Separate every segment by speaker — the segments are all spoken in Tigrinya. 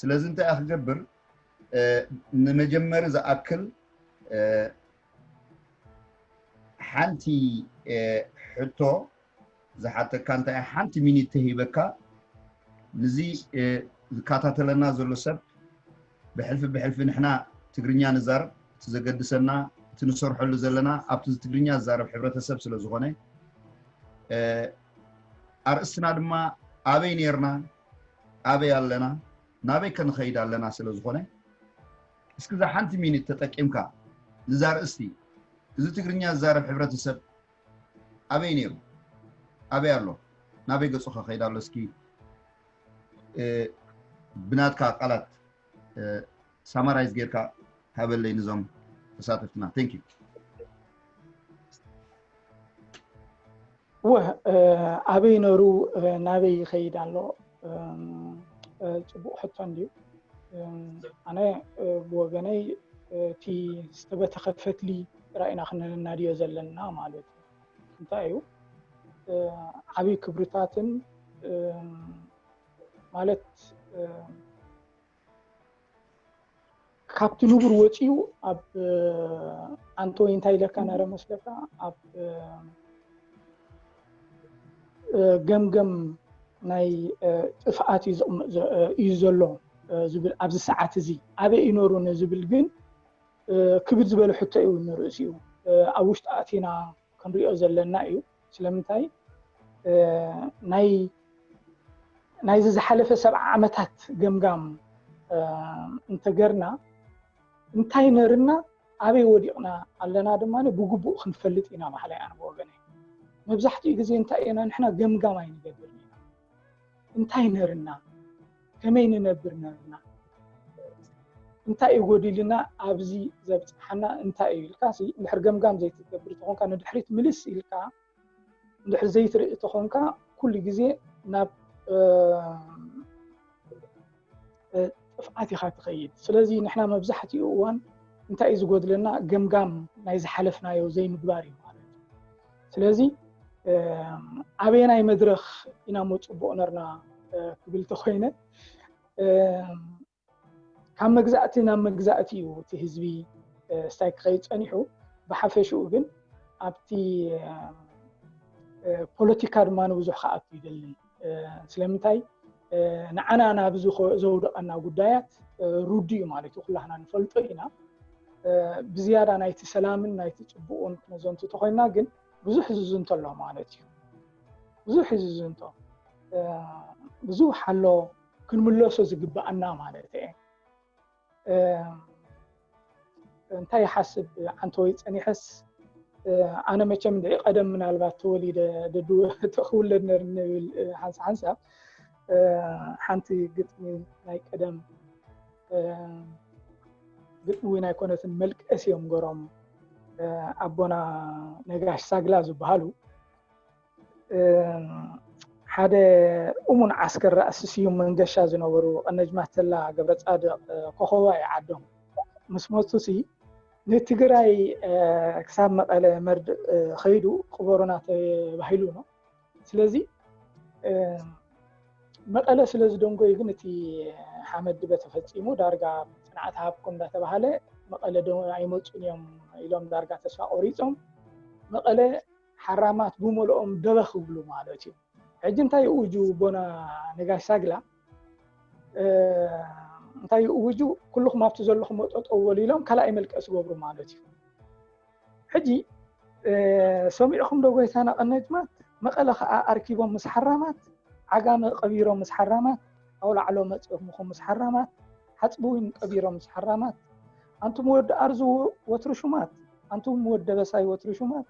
Speaker 1: ስለዚ እንታይ እያ ክገብር ንመጀመሪ ዝኣክል ሓንቲ ሕቶ ዝሓተካ እንታይ እያ ሓንቲ ሚኒት ተሂበካ ንዚ ዝከታተለና ዘሎ ሰብ ብሕልፊ ብሕልፊ ንሕና ትግርኛ ንዛረብ እቲ ዘገድሰና እቲ ንሰርሐሉ ዘለና ኣብቲ ትግርኛ ዝዛረብ ሕብረተሰብ ስለ ዝኾነ ኣርእስትና ድማ ኣበይ ኔርና ኣበይ ኣለና ናበይ ከ ንኸይድ ኣለና ስለ ዝኾነ እስኪ እዛ ሓንቲ ሚኒት ተጠቂምካ ንዛ ርእስቲ እዚ ትግርኛ ዝዛረብ ሕብረተሰብ ኣበይ ነይሩ ኣበይ ኣሎ ናበይ ገፁ ከኸይድ ኣሎ እስኪ ብናትካ ቃላት ሳማራይዝ ጌርካ ሃበለይ ንዞም ተሳተፍትና ቴንክ ዩ
Speaker 2: እወ ኣበይ ነሩ ናበይ ይኸይድ ኣሎ ፅቡቅ ሕቶ እንድዩ ኣነ ብወገነይ እቲ ዝተበተኸ ፈትሊ ጥራይ ኢና ክነናድዮ ዘለና ማለት እዩ እንታይ እዩ ዓብይ ክብርታትን ማለት ካብቲ ንቡር ወፂኡ ኣብ ኣንተ ወይ እንታይ ኢለካ ነረ መስለካ ኣብ ገምገም ናይ ጥፍኣት እዩ ዘሎ ዝብል ኣብዚ ሰዓት እዚ ኣበይ እዩ ነሩ ንዝብል ግን ክብድ ዝበለ ሕቶ እዩ ንርእሲኡ ኣብ ውሽጢ ኣእቲና ክንሪኦ ዘለና እዩ ስለምንታይ ናይዚ ዝሓለፈ ሰብዓ ዓመታት ገምጋም እንተገርና እንታይ ነርና ኣበይ ወዲቕና ኣለና ድማ ብግቡእ ክንፈልጥ ኢና በሃላይ ኣነ ብወገነ መብዛሕትኡ ግዜ እንታይ ኢና ንሕና ገምጋም ኣይንገብርን ኢና እንታይ ነርና ከመይ ንነብር ነርና እንታይ እዩ ጎዲልና ኣብዚ ዘብፅሓና እንታይ እዩ ኢልካ እንድሕር ገምጋም ዘይትገብር ተኾንካ ንድሕሪት ምልስ ኢልካ እንድሕር ዘይትርኢ ተኾንካ ኩሉ ግዜ ናብ ጥፍዓት ኢኻ ትኸይድ ስለዚ ንሕና መብዛሕትኡ እዋን እንታይ እዩ ዝጎድለና ገምጋም ናይ ዝሓለፍናዮ ዘይምግባር እዩ ማለት እዩ ስለዚ ኣበየናይ መድረኽ ኢና እሞ ፅቡቕ ነርና ክብል ተኾይነ ካብ መግዛእቲ ናብ መግዛእቲ እዩ እቲ ህዝቢ ስታይ ክኸይድ ፀኒሑ ብሓፈሽኡ ግን ኣብቲ ፖለቲካ ድማ ንብዙሕ ክኣቱ ይደልን ስለምንታይ ንዓና ናብዚ ዘውደቐና ጉዳያት ሩዱ እዩ ማለት እዩ ኩላህና ንፈልጦ ኢና ብዝያዳ ናይቲ ሰላምን ናይቲ ፅቡቕን ክነዘንቱ ተኮይና ግን ብዙሕ ዝዝንቶ ኣሎ ማለት እዩ ብዙሕ ዝዝንቶ ብዙሕ ኣሎ ክንምለሶ ዝግባኣና ማለት እየ እንታይ ይሓስብ ዓንተወይ ፀኒሐስ ኣነ መቸም ድዒ ቀደም ምናልባት ተወሊደ ክውለድ ነር ንብል ሓንሳ ሓንሳ ሓንቲ ግጥሚ ናይ ቀደም ግጥሚ እውን ኣይኮነትን መልቀስ እዮም ገሮም ኣቦና ነጋሽ ሳግላ ዝበሃሉ ሓደ እሙን ዓስከር ራእሲ ስዩም መንገሻ ዝነበሩ ቀነጅማች ተላ ገብረፃድቕ ኮኸባ እዩ ዓዶም ምስ መፁ ሲ ንትግራይ ክሳብ መቐለ መርድእ ከይዱ ቅበሩና ተባሂሉ ነው። ስለዚ መቐለ ስለ ዝደንጎዩ ግን እቲ ሓመድ ድበ ተፈፂሙ ዳርጋ ፅንዓት ሃብኩም እንዳተባሃለ መቐለ ዶ ኣይመፁን እዮም ኢሎም ዳርጋ ተስፋ ቆሪፆም መቐለ ሓራማት ብመልኦም ደበኽ ይብሉ ማለት እዩ ሕጂ እንታይ ይእውጁ ቦና ነጋሽ ሳግላ እንታይ ይእውጁ ኩልኹም ኣብቲ ዘለኹም ጠጠው በሉ ኢሎም ካልኣይ መልቀ ዝገብሩ ማለት እዩ ሕጂ ሰሚዕኹም ዶ ጎይታና ቀነጅማት መቐለ ከዓ ኣርኪቦም ምስ ሓራማት ዓጋመ ቀቢሮም ምስ ሓራማት ኣውላዕሎ መፅኹም ምስ ሓራማት ሓጽብዊን ቀቢሮም ሰሓራማት ኣንቱም ወዲ ኣርዙ ወትሩ ሹማት ኣንቱም ወዲ ደበሳይ ወትሩ ሹማት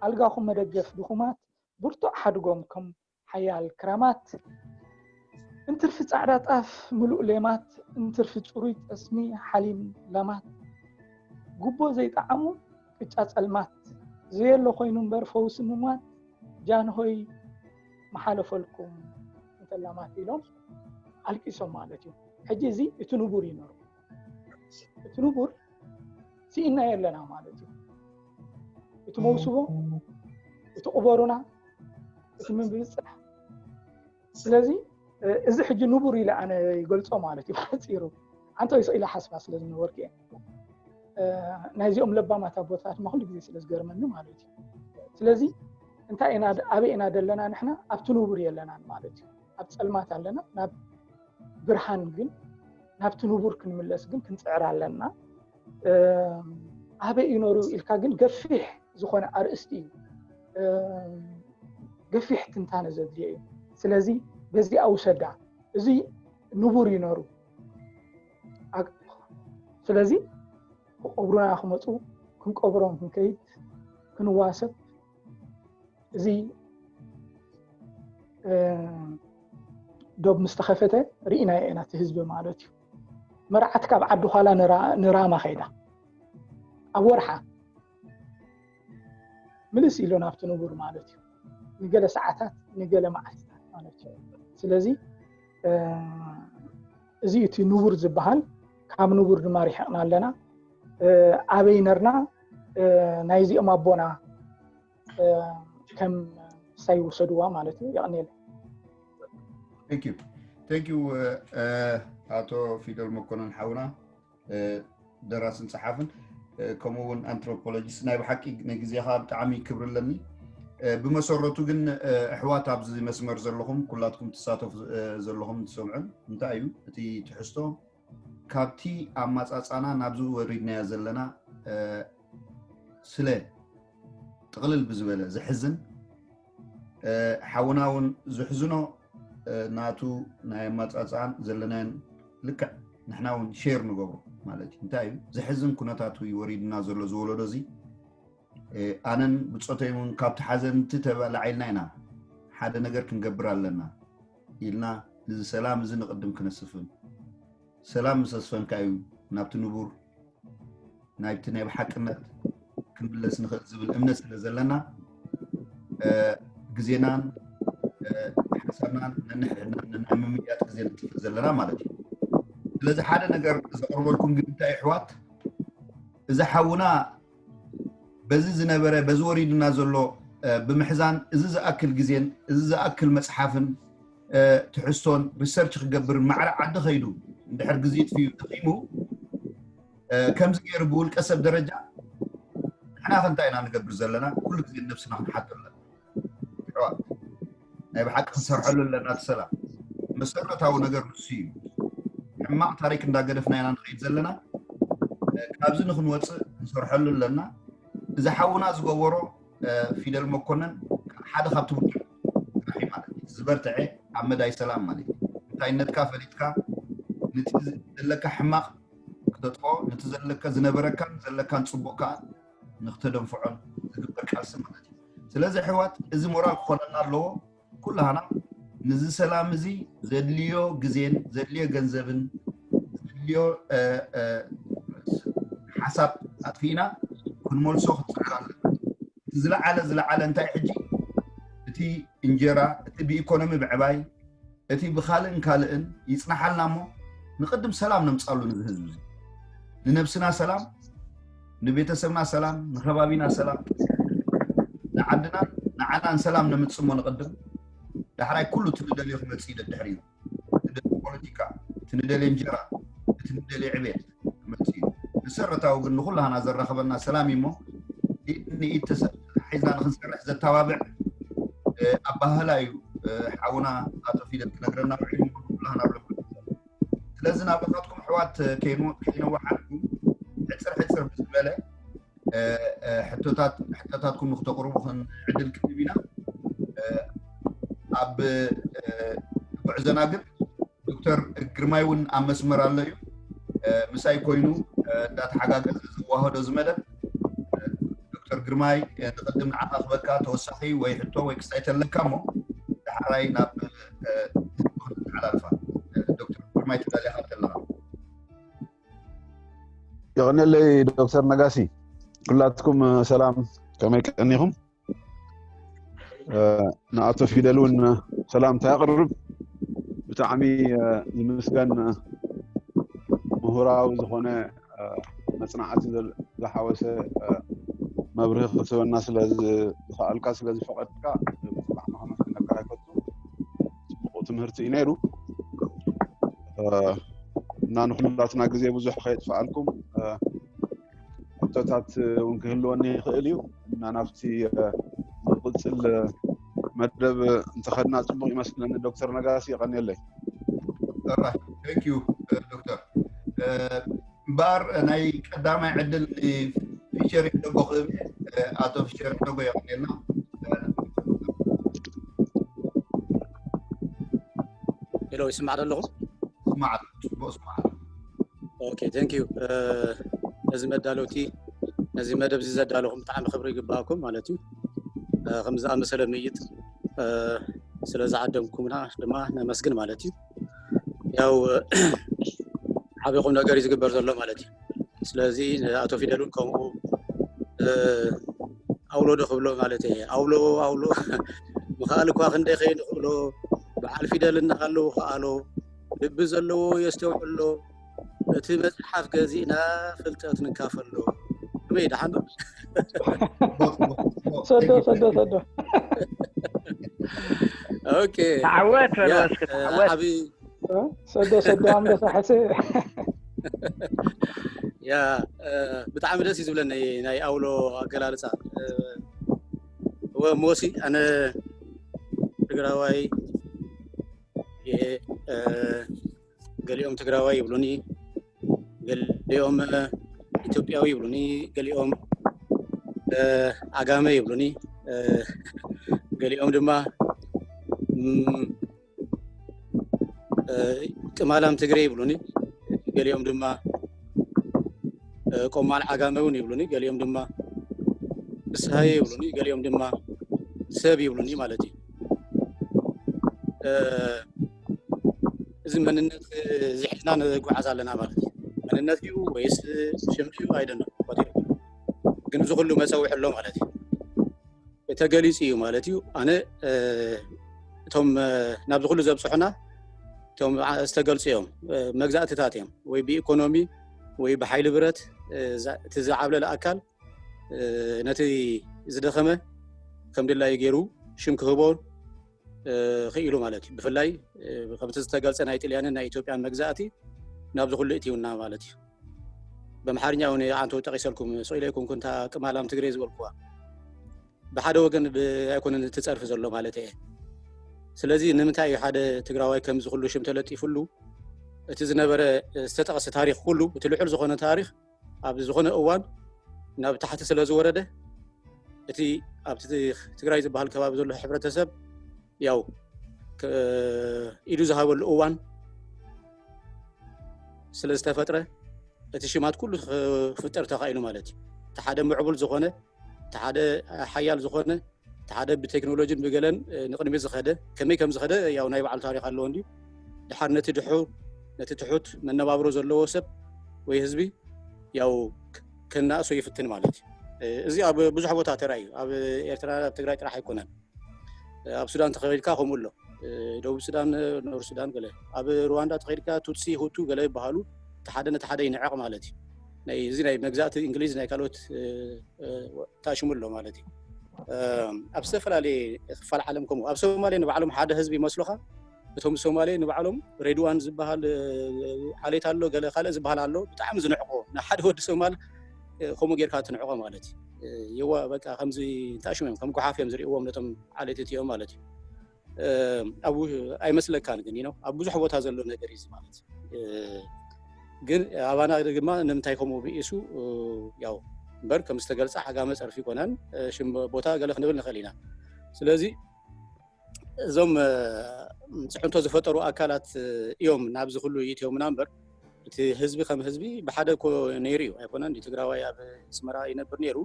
Speaker 2: ኣልጋኹም መደገፍ ድኹማት ብርቱዕ ሓድጎም ከም ሓያል ክራማት እንትርፊ ጻዕዳ ጣፍ ምሉእ ሌማት እንትርፊ ጽሩይ ጠስሚ ሓሊም ለማት ጉቦ ዘይጠዓሙ ቅጫ ጸልማት ዘየሎ ኮይኑ እምበር ፈውሲ ምሟት ጃንሆይ ምሓለፈልኩም እንተላማት ኢሎም ኣልቂሶም ማለት እዩ ሕጂ እዚ እቲ ንቡር እዩ ነሩ እቲ ንቡር ስኢና የለና ማለት እዩ እቲ መውስቦ እቲ ቁበሩና እቲ ምብብፅሕ ስለዚ እዚ ሕጂ ንቡር ኢለ ኣነ ይገልፆ ማለት እዩ ሓፂሩ ሓንቲ ይስ ኢለ ሓስባ ስለ ዝነበርኩ እየ ናይዚኦም ለባማት ኣቦታት ድማ ኩሉ ግዜ ስለ ዝገርመኒ ማለት እዩ ስለዚ እንታይ ኢና ኣበይ ኢና ዘለና ንሕና ኣብቲ ንቡር የለናን ማለት እዩ ኣብ ፀልማት ኣለና ናብ ብርሃን ግን ናብቲ ንቡር ክንምለስ ግን ክንፅዕር ኣለና ኣበይ እዩ ነሩ ኢልካ ግን ገፊሕ ዝኾነ ኣርእስቲ እዩ ገፊሕ ትንታነ ዘድልዮ እዩ ስለዚ በዚኣ ውሰዳ እዚ ንቡር እዩ ነሩ ስለዚ ክቐብሩና ክመፁ ክንቀብሮም ክንከይድ ክንዋሰብ እዚ ዶብ ምስ ተኸፈተ ርኢናዮ ኢና እቲ ህዝቢ ማለት እዩ መርዓት ካብ ዓዲ ኋላ ንራማ ከይዳ ኣብ ወርሓ ምልስ ኢሎ ናብቲ ንቡር ማለት እዩ ንገለ ሰዓታት ንገለ መዓልትታት ማለት እዩ ስለዚ እዚ እዩ እቲ ንቡር ዝበሃል ካብ ንቡር ድማ ሪሕቕና ኣለና ኣበይ ነርና ናይዚኦም ኣቦና ከም ሳይ ውሰድዋ ማለት እዩ የቕኒየለ ቴንክ ዩ
Speaker 1: ቴንክ ዩ ኣቶ ፊደል መኮነን ሓውና ደራስን ፀሓፍን ከምኡ እውን ኣንትሮፖሎጂስት ናይ ብሓቂ ንግዜኻ ብጣዕሚ ክብሪ ኣለኒ ብመሰረቱ ግን ኣሕዋት ኣብዚ መስመር ዘለኹም ኩላትኩም ትሳተፉ ዘለኹም ትሰምዑን እንታይ እዩ እቲ ትሕዝቶ ካብቲ ኣማፃፃና ናብዚ ወሪድናዮ ዘለና ስለ ጥቕልል ብዝበለ ዘሕዝን ሓውና እውን ዝሕዝኖ ናቱ ናይ ኣማፃፅኣን ዘለናን ልክዕ ንሕና እውን ሼር ንገብሮ ማለት እዩ እንታይ እዩ ዘሕዝን ኩነታት እዩ ወሪድና ዘሎ ዝወለዶ እዚ ኣነን ብፆተይ እውን ካብቲ ሓዘንቲ ተላዒልና ኢና ሓደ ነገር ክንገብር ኣለና ኢልና እዚ ሰላም እዚ ንቅድም ክነስፍን ሰላም ምስ ኣስፈንካ እዩ ናብቲ ንቡር ናይቲ ናይ ብሓቅነት ክንምለስ ንኽእል ዝብል እምነት ስለ ዘለና ግዜናን ሓሳብናን ነንሕድናን ነናይ ምምያጥ ግዜ ንጥፍእ ዘለና ማለት እዩ ስለዚ ሓደ ነገር ዘቕርበልኩም ግን እንታይ ኣሕዋት እዚ ሓውና በዚ ዝነበረ በዚ ወሪድና ዘሎ ብምሕዛን እዚ ዝኣክል ግዜን እዚ ዝኣክል መፅሓፍን ትሕዝቶን ሪሰርች ክገብርን ማዕረ ዓዲ ከይዱ እንድሕር ግዜ ጥፍዩ ደኺሙ ከምዚ ገይሩ ብውልቀ ሰብ ደረጃ ንሕና ከንታይ ኢና ንገብር ዘለና ኩሉ ግዜ ነብስና ክንሓቶ ኣለና ሕዋት ናይ ብሓቂ ክንሰርሐሉ ኣለና እቲ ሰላም መሰረታዊ ነገር ንሱ እዩ ሕማቕ ታሪክ እንዳገደፍና ኢና ንኸይድ ዘለና ካብዚ ንክንወፅእ ክንሰርሐሉ ኣለና እዚ ሓውና ዝገበሮ ፊደል መኮነን ሓደ ካብ ትምህርቲ መራሒ ማለት እዩ። እቲ ዝበርትዔ ኣብ መዳይ ሰላም ማለት እዩ። እንታይነትካ ፈሊጥካ ንቲ ዘለካ ሕማቕ ክተጥፍኦ ንቲ ዘለካ ዝነበረካን ዘለካን ጽቡቕ ከኣ ንክተደንፍዖን ዝግበር ቃልሲ ማለት እዩ። ስለዚ ኣሕዋት እዚ ሞራል ክኾነና ኣለዎ ኩላህና ንዚ ሰላም እዚ ዘድልዮ ግዜን ዘድልዮ ገንዘብን ዘድልዮ ሓሳብ ኣጥፊእና ክንመልሶ ክንጽዕር ኣለና። እቲ ዝለዓለ ዝለዓለ እንታይ እዩ ሕጂ እቲ እንጀራ እቲ ብኢኮኖሚ ምዕባይ እቲ ብካልእን ካልእን ይጽናሓልና እሞ ንቅድም ሰላም ነምጻሉ ነዚ ህዝቢ እዚ ንነብስና ሰላም ንቤተሰብና ሰላም ንከባቢና ሰላም ንዓድናን ንዓናን ሰላም ነምጽሞ ንቅድም ዳሕራይ ኩሉ እቲ ንደልዮ ክመጽእ እዩ ደድሕሪኡ እቲ ንደልዮ ፖለቲካ፣ እቲ ንደልዮ እንጀራ፣ እቲ ንደልዮ ዕቤት ክመጽእ እዩ። መሰረታዊ ግን ንኹላህና ዘራኽበና ሰላም እዩ እሞ ኢድ ንኢድ ተተሓሒዝና ንኽንሰርሕ ዘተባብዕ ኣበሃህላ እዩ ሓውና ኣቶ ፊደል ክነግረና ውዒሉ እሞ ንኹላህና ኣብ ልብና ኣሎ። ስለዚ ናብራታትኩም ኣሕዋት ከይነዋሓልኩም ሕጽር ሕጽር ብዝበለ ሕቶታትኩም ንክተቅርቡ ዕድል ክንህብ ኢና ኣብ ጉዕዘና ግን ዶክተር ግርማይ እውን ኣብ መስመር ኣሎ እዩ ምሳይ ኮይኑ እንዳተሓጋገዘ ዝዋህዶ እዚ መደብ ዶክተር ግርማይ ንቅድም ንዓኻ ክበካ ተወሳኺ ወይ ሕቶ ወይ ክስታይ ተለካ እሞ ዳሕራይ ናብ ህዝቢ ክንተሓላልፋ ዶክተር ግርማይ ተዳሊኻ ተለኻ
Speaker 3: የቐነለይ ዶክተር ነጋሲ ኩላትኩም ሰላም ከመይ ቀኒኹም ንኣቶ ፊደል እውን ሰላምታ ያቕርብ ብጣዕሚ ዝምስገን ምሁራዊ ዝኾነ መፅናዕቲ ዝሓወሰ መብርሂ ክትህበና ስለዝኸኣልካ ስለዝፈቐድካ ብጣዕሚ ከመስግነካ ይፈቱ ፅቡቕ ትምህርቲ እዩ ነይሩ እና ንኩላትና ግዜ ብዙሕ ከየጥፍኣልኩም ሕቶታት እውን ክህልወኒ ይኽእል እዩ እና ናብቲ ዝቕፅል መደብ እንተኸድና ፅቡቕ ይመስለኒ ዶክተር ነጋሲ የቐንየለይ
Speaker 1: ዶክተር እምበኣር ናይ ቀዳማይ ዕድል ንፊሸር ሒደጎ ክህብ እየ። ኣቶ ፊሸር ሒደጎ የቐንየልና።
Speaker 4: ሄሎ ይስማዕ ዶ ኣለኹ? ስማዕ ኣሎ፣ ጽቡቕ
Speaker 1: ስማዕ ኣሎ።
Speaker 4: ኦኬ ቴንክ ዩ ነዚ መዳለውቲ ነዚ መደብ እዚ ዘዳለኹም ብጣዕሚ ክብሪ ይግባኣኩም ማለት እዩ እ፣ ከም ዝኣመሰለ ምይጥ እ፣ ስለ ዝዓደምኩምና ድማ ነመስግን ማለት እዩ ያው ዓብ ኹም ነገር ዩ ዝግበር ዘሎ ማለት እዩ ስለዚ ኣቶ ፊደል ን ከምኡ ኣውሎ ዶ ክብሎ ማለት እ ኣውሎ ኣውሎ ምክኣል እኳ ክንደይ ከይንክእሎ ብዓል ፊደል እናሃለዉ ክኣሎ ልቢ ዘለዎ የስተውዕሎ እቲ መጽሓፍ ገዚእና ፍልጠት ንካፈሎ ከመይ ደሓን ዶ
Speaker 2: ሰዶ ሰዶ ሰዶ
Speaker 4: ኦኬ ተዓወት ያ፣ በሎ
Speaker 5: እስኪ እ፣ ተዓወት ዓብዪ እ?
Speaker 4: ሰዶ
Speaker 2: ሰዶ ኣንበሳ ሕሰ
Speaker 4: ያ እ፣ ብጣዕሚ ደስ እዩ ዝብለኒ ናይ ኣውሎ ኣገላልፃ እ፣ እወ ሞሲ ኣነ ትግራዋይ እየ እ፣ ገሊኦም ትግራዋይ ይብሉኒ፣ ገሊኦም ኢትዮጵያዊ ይብሉኒ፣ ገሊኦም ኣጋመ ይብሉኒ፣ ገሊኦም ድማ ቅማላም ትግሬ ይብሉኒ፣ ገሊኦም ድማ ቆማል ዓጋመ እውን ይብሉኒ፣ ገሊኦም ድማ ፍስሃየ ይብሉኒ፣ ገሊኦም ድማ ሰብ ይብሉኒ ማለት እዩ። እዚ መንነት እዚ ሒዝና ንጓዓዝ ኣለና ማለት እዩ መንነት ድዩ ወይስ ሽም ድዩ ኣይደነ ግን እዚ ኩሉ መፀውዒ ኣሎ ማለት እዩ ተገሊፁ እዩ ማለት እዩ ኣነ እቶም ናብዚ ኩሉ ዘብፅሑና እቶም ዝተገልፁ እዮም መግዛእትታት እዮም ወይ ብኢኮኖሚ ወይ ብሓይሊ ብረት እቲ ዝዓብለለ ኣካል ነቲ ዝደኸመ ከም ድላዩ ገይሩ ሽም ክህቦ ክኢሉ ማለት እዩ ብፍላይ ከምቲ ዝተገልፀ ናይ ጥልያንን ናይ ኢትዮጵያን መግዛእቲ ናብዚ ኩሉ እትውና ማለት እዩ በምሓርኛ እውን ኣንተ ጠቂሰልኩም ሰኢለ ይኩንኩ እንታ ቅማላም ትግሬ ዝበልኩዋ ብሓደ ወገን ኣይኮነን እትፀርፊ ዘሎ ማለት እየ ስለዚ ንምንታይ እዩ ሓደ ትግራዋይ ከምዚ ኩሉ ሽም ተለጢፍሉ እቲ ዝነበረ ዝተጠቐሰ ታሪክ ኩሉ እቲ ልዑል ዝኮነ ታሪክ ኣብ ዝኾነ እዋን ናብ ታሕቲ ስለ ዝወረደ እቲ ኣብቲ ትግራይ ዝበሃል ከባቢ ዘሎ ሕብረተሰብ ያው ኢዱ ዝሃበሉ እዋን ስለ ዝተፈጥረ እቲ ሽማት ኩሉ ክፍጠር ተኻኢሉ ማለት እዩ እቲ ሓደ ምዕቡል ዝኾነ እቲ ሓደ ሓያል ዝኾነ እቲ ሓደ ብቴክኖሎጂን ብገለን ንቕድሚት ዝኸደ ከመይ ከም ዝኸደ ያው ናይ ባዕሉ ታሪክ ኣለዎ እንዲ ድሓር ነቲ ድሑ ነቲ ትሑት መነባብሮ ዘለዎ ሰብ ወይ ህዝቢ ያው ከናእሶ ይፍትን ማለት እዩ እዚ ኣብ ብዙሕ ቦታ ተራእዩ ኣብ ኤርትራ ኣብ ትግራይ ጥራሕ ኣይኮነን ኣብ ሱዳን ተኸይድካ ከምኡ ኣሎ ደቡብ ሱዳን ኖር ሱዳን ገለ ኣብ ሩዋንዳ ተኸይድካ ቱትሲ ሁቱ ገለ ይበሃሉ እቲ ሓደ ነቲ ሓደ ይንዕቕ ማለት እዩ ናይ እዚ ናይ መግዛእቲ እንግሊዝ ናይ ካልኦት ታሽሙ ኣሎ ማለት እዩ ኣብ ዝተፈላለየ ክፋል ዓለም ከምኡ ኣብ ሶማሌ ንባዕሎም ሓደ ህዝቢ ይመስሉኻ እቶም ሶማሌ ንባዕሎም ሬድዋን ዝበሃል ዓሌት ኣሎ ገለ ካልእ ዝበሃል ኣሎ ብጣዕሚ ዝንዕቆ ንሓደ ወዲ ሶማል ከምኡ ጌርካ ትንዕቆ ማለት እዩ የዋ በቃ ከምዚ እንታሽም እዮም ከም ጉሓፍ እዮም ዝርእዎም ነቶም ዓሌት እቲኦም ማለት እዩ ኣብ ኣይመስለካን ግን ነው ኣብ ብዙሕ ቦታ ዘሎ ነገር እዩ ማለት ግን ኣባና ድማ ንምንታይ ከምኡ ብኢሱ ያው እምበር ከም ዝተገልፀ ዓጋመ ፀርፊ ኮነን ሽም ቦታ ገለ ክንብል ንኽእል ኢና ስለዚ እዞም ፅዕንቶ ዝፈጠሩ ኣካላት እዮም ናብዚ ኩሉ ይእትዮምና እምበር እቲ ህዝቢ ከም ህዝቢ ብሓደ እኮ ነይሩ እዩ ኣይኮነን ትግራዋይ ኣብ ስመራ ይነብር ነይሩ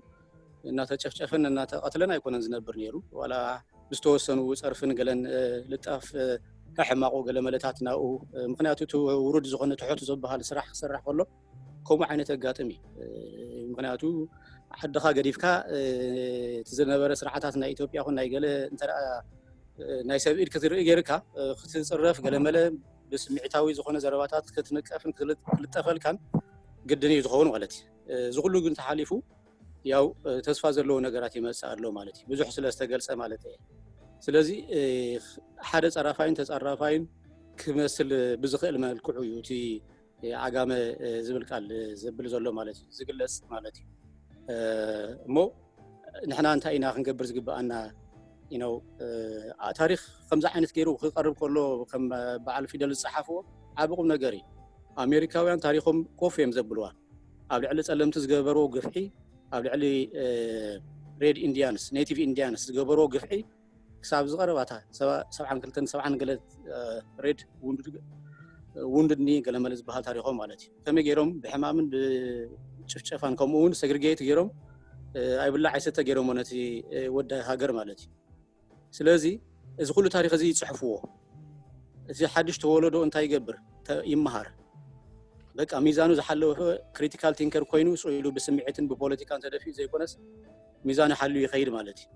Speaker 4: እናተጨፍጨፈን እናተቐትለን ኣይኮነን ዝነብር ነይሩ ዋላ ብዝተወሰኑ ፀርፍን ገለን ልጣፍ ሕማቑ ገለ መለታት ናብኡ ምክንያቱ እቲ ውሩድ ዝኾነ ትሑት ዝበሃል ስራሕ ክስራሕ ከሎ ከምኡ ዓይነት ኣጋጥም እዩ ምክንያቱ ዓድኻ ገዲፍካ እቲ ዝነበረ ስርዓታት ናይ ኢትዮጵያ ኹን ናይ ገለ እንተ ናይ ሰብ ኢድ ክትርኢ ገይርካ ክትፅረፍ ገለመለ ብስምዒታዊ ዝኾነ ዘረባታት ክትንቀፍን ክልጠፈልካን ግድን እዩ ዝኸውን ማለት እዩ እዚ ኩሉ ግን ተሓሊፉ ያው ተስፋ ዘለዎ ነገራት ይመፅእ ኣሎ ማለት እዩ ብዙሕ ስለ ዝተገልፀ ማለት እየ ስለዚ ሓደ ፀራፋይን ተፀራፋይን ክመስል ብዝኽእል መልክዑ እዩ እቲ ዓጋመ ዝብል ቃል ዘብል ዘሎ ማለት እዩ ዝግለፅ ማለት እዩ እሞ ንሕና እንታይ ኢና ክንገብር ዝግብኣና ኢነው ታሪክ ከምዚ ዓይነት ገይሩ ክቀርብ ከሎ ከም በዓል ፊደል ዝፀሓፍዎ ዓብ ቁም ነገር እዩ ኣሜሪካውያን ታሪኮም ኮፍ እዮም ዘብልዋ ኣብ ልዕሊ ፀለምቲ ዝገበርዎ ግፍዒ ኣብ ልዕሊ ሬድ ኢንዲያንስ ኔቲቭ ኢንዲያንስ ዝገበርዎ ግፍዒ ክሳብ ዝቐረባታ ሰብዓን ክልተን ሰብዓን ገለ ሬድ ውንድድ ኒ ገለመለ ዝበሃል ታሪኾም ማለት እዩ ከመይ ገይሮም ብሕማምን ብጭፍጨፋን ከምኡ እውን ሰግሪጌት ገይሮም ኣይብላ ዓይሰተ ገይሮሞ ነቲ ወዲ ሃገር ማለት እዩ ስለዚ እዚ ኩሉ ታሪክ እዚ ይፅሕፍዎ እዚ ሓድሽ ተወለዶ እንታይ ይገብር ይመሃር በቃ ሚዛኑ ዝሓለወ ክሪቲካል ቲንከር ኮይኑ ስኢሉ ብስምዒትን ብፖለቲካን ተደፊኡ ዘይኮነስ ሚዛኑ ሓልዩ ይኸይድ ማለት እዩ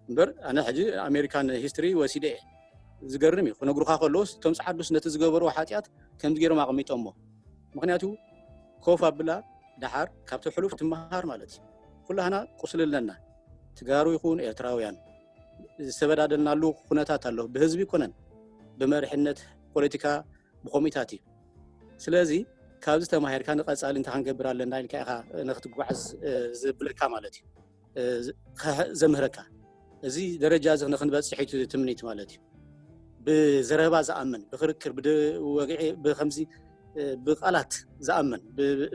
Speaker 4: እምበር ኣነ ሕጂ ኣሜሪካን ሂስትሪ ወሲደ እየ ዝገርም እዩ ክነግሩካ ከለዎስ እቶም ፀዓዱስ ነቲ ዝገበርዎ ሓጢኣት ከምዚ ገይሮም ኣቐሚጦሞ ምክንያቱ ኮፍ ኣብላ ደሓር ካብቲ ሕሉፍ ትመሃር ማለት እዩ ኩላህና ቁስሊ ኣለና ትጋሩ ይኹን ኤርትራውያን ዝተበዳደልናሉ ኩነታት ኣሎ ብህዝቢ ኮነን ብመርሕነት ፖለቲካ ብኮሚታት እዩ ስለዚ ካብዚ ተማሂርካ ንቀፃሊ እንታይ ክንገብር ኣለና ኢልካ ኢኻ ንክትጓዓዝ ዝብለካ ማለት እዩ ዘምህረካ እዚ ደረጃ እዚ ንክንበፅሕ እቲ ትምኒት ማለት እዩ ብዘረባ ዝኣምን ብክርክር ብወግዒ ብከምዚ ብቃላት ዝኣምን